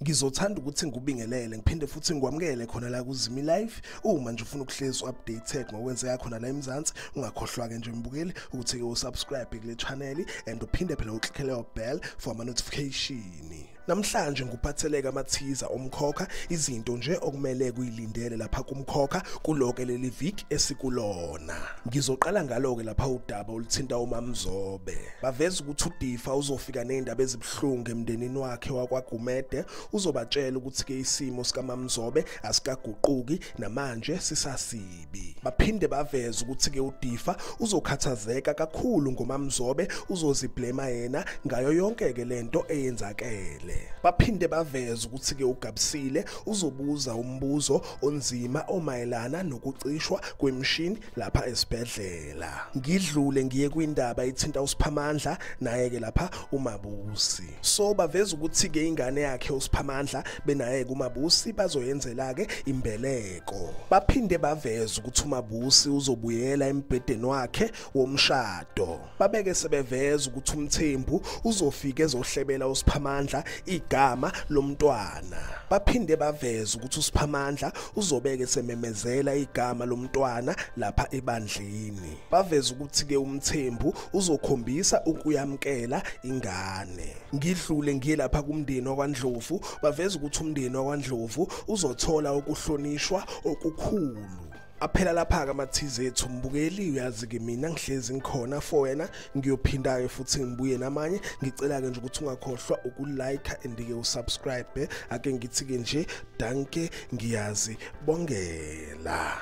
ngizothanda ukuthi ngikubingelele ngiphinde futhi ngikwamukele khona la kuzimi live uma nje ufuna ukuhlezi updated ngokwenzeka khona la eMzansi ungakhohlwa ke nje mbukeli ukuthi ke usubscribe kule channel and uphinde phela uclickele bell for ama notification Namhlanje nguphatheleka amathiza omkhokha izinto nje okumele kuyilindele lapha kumkhokha kuloke leli viki esikulona. Ngizoqala ngaloke lapha udaba oluthinta uMamzobe. Baveza ukuthi uDifa uzofika nezindaba ezibuhlungu emndenini wakhe wakwaGumede uzobatshela ukuthi ke isimo sikaMamzobe asikaguquki namanje sisasile. Msibi. Baphinde baveza ukuthi ke uDifa uzokhathazeka kakhulu ngomamzobe uzoziblema yena ngayo yonke ke lento eyenzakele. Baphinde baveza ukuthi ke uGabsile uzobuza umbuzo onzima omayelana nokucishwa kwemshini lapha esibhedlela. Ngidlule ngiye kwindaba ithinta uSiphamandla naye ke lapha uMabusi. So baveza ukuthi ke ingane yakhe uSiphamandla benaye kuMabusi bazoyenzela ke imbeleko. Mseko. Baphinde baveza ukuthi uMabusi uzobuyela embhedeni wakhe womshado. Babeke sebeveza ukuthi uMthembu uzofika ezohlebela uSiphamandla igama lomntwana. Baphinde baveza ukuthi uSiphamandla uzobeke sememezela igama lomntwana lapha ebandleni. baveza ukuthi-ke umthembu uzokhombisa ukuyamukela ingane ngidlule ngiye lapha kumndeni wakwandlovu baveza ukuthi umndeni wakwandlovu uzothola ukuhlonishwa okukhulu aphela lapha-ke ama-tz ethu mbukeli uyazi-ke mina ngihlezi ngikhona for wena ngiyophinda-ke futhi ngibuye namanye ngicela-ke nje ukuthi ungakhohlwa ukulike and-ke usubscribe ake ngithi-ke nje danke ngiyazi bongela